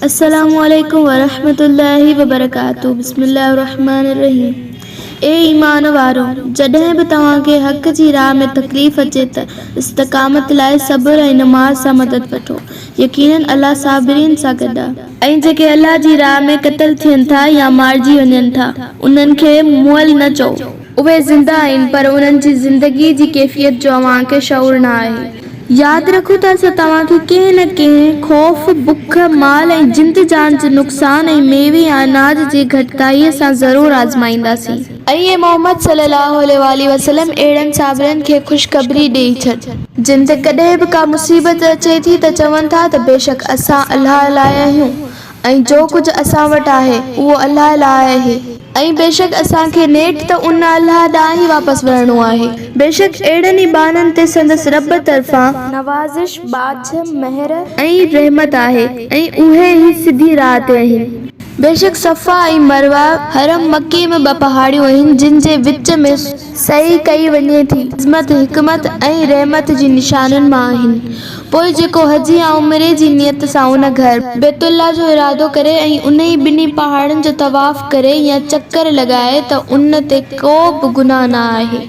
السلام عليڪم ورحمة الله وبرڪاته بسم الله الرحمٰن الرحيم اي ايمان وارؤ! جڏهن به توهان کي حق جي راهه ۾ تڪليف اچي ته استقامت لاء صبر ۽ نماز سان مدد وٺو. يقيناً الله صابرين سان گڏ آهي. ۽ جيڪي الله جي راهه ۾ قتل ٿين ٿا يا مارجي وڃن ٿا، انهن کي مئل نه چئو. اهي زنده آهن پر انهن جي زندگيء جي ڪيفيت جو اوهان کي شعور نه آهي. ياد رکو ته اسان توهان کي ڪنهن نه ڪنهن خوف، بک، مال ۽ جند جان جي نقصان ۽ ميوي يا اناج جي گهٽتائيء سان ضرور آزمائينداسين. ۽ اي محمد صلّي اللّٰه عليه واٰله وسلّم! اهڙن صابرن کي خوشخبري ڏيئي ڇڏ. جن تي ڪڏهن به ڪا مصيبت اچي ٿي ته چون ٿا ته بيشڪ اسان الله لاء آهيون. ۽ جو ڪجهه اسان وٽ آهي، اهو الله لاء آهي. ۽ بيشڪ اسان کي نيٺ ته ان الله ڏانهن ئي واپس ورڻو آهي. بيشڪ اهڙن ئي ٻانهن تي سندس رب طرفان. نوازش، ٻاجهه، مهر. ۽ رحمت آهي ۽ اهي ئي سڌي راهه تي آهن. بيشڪ صفا ۽ مروه، حرم مڪي ۾ ٻه پهاڙيون آهن جن جي وچ ۾. سعي ڪئي وڃي ٿي. عظمت، حڪمت ۽ رحمت جي نشانين مان آهن. پوء جيڪو حج يا عمري جي نيت سان ان گهر. بيت الله جو ارادو ڪري ۽ انهي ٻنهي پهاڙن جو طواف ڪري يا چڪر لڳائي ته ان تي ڪو به گناهه نه آهي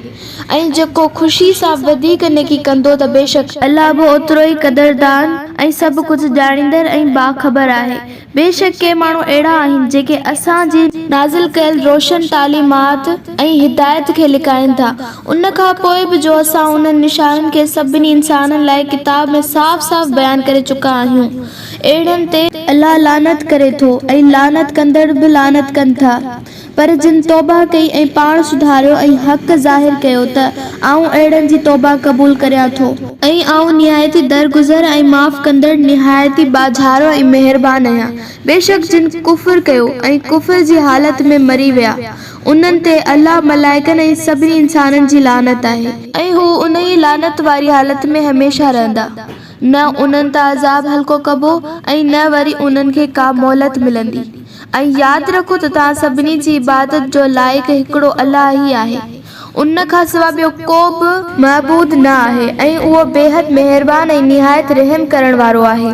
۽ جيڪو خوشي سان وڌيڪ نيڪي ڪندو ته بيشڪ. الله به اوترو ئي قدردان ۽ سڀ ڪجهه ڄاڻيندڙ ۽ باخبر آهي. بيشڪ ڪي ماڻهو اهڙا آهن جيڪي اسان جي نازل ڪيل روشن تعليمات ۽ هدايت کي لڪائين ٿا ان کان پوء به جو اسان انهن نشانين کي سڀني انسانن لاء ڪتاب ۾ صاف صاف بيان ڪري چڪا آهيون اهڙن تي الله لعنت ڪري ٿو ۽ لعنت ڪندڙ به لعنت ڪن ٿا. پر جن توبه ڪئي ۽ پاڻ سڌاريو ۽ حق ظاهر ڪيو ته آئون اهڙن جي توبه قبول ڪريان ٿو. ۽ آئون نهايت ئي درگذر ۽ معاف ڪندڙ نهايت ئي ٻاجهارو ۽ مهربان آهيان. بيشڪ جن ڪفر ڪيو ۽ ڪفر جي حالت ۾ مري ويا، انهن تي الله، ملائڪن ۽ سڀني انسانن جي لعنت آهي. ۽ هو انهيء لعنت واري حالت ۾ هميشه رهندا. نه انهن تان عذاب هلڪو ڪبو ۽ نه وري انهن کي ڪا مهلت ملندي. ۽ ياد رکو ته توهان سڀني جي عبادت جو لائق هڪڙو الله ئي آهي. ان کان سواء ٻيو ڪو به. معبود نه آهي ۽ اهو بيحد مهربان ۽ نهايت رحم ڪرڻ وارو آهي.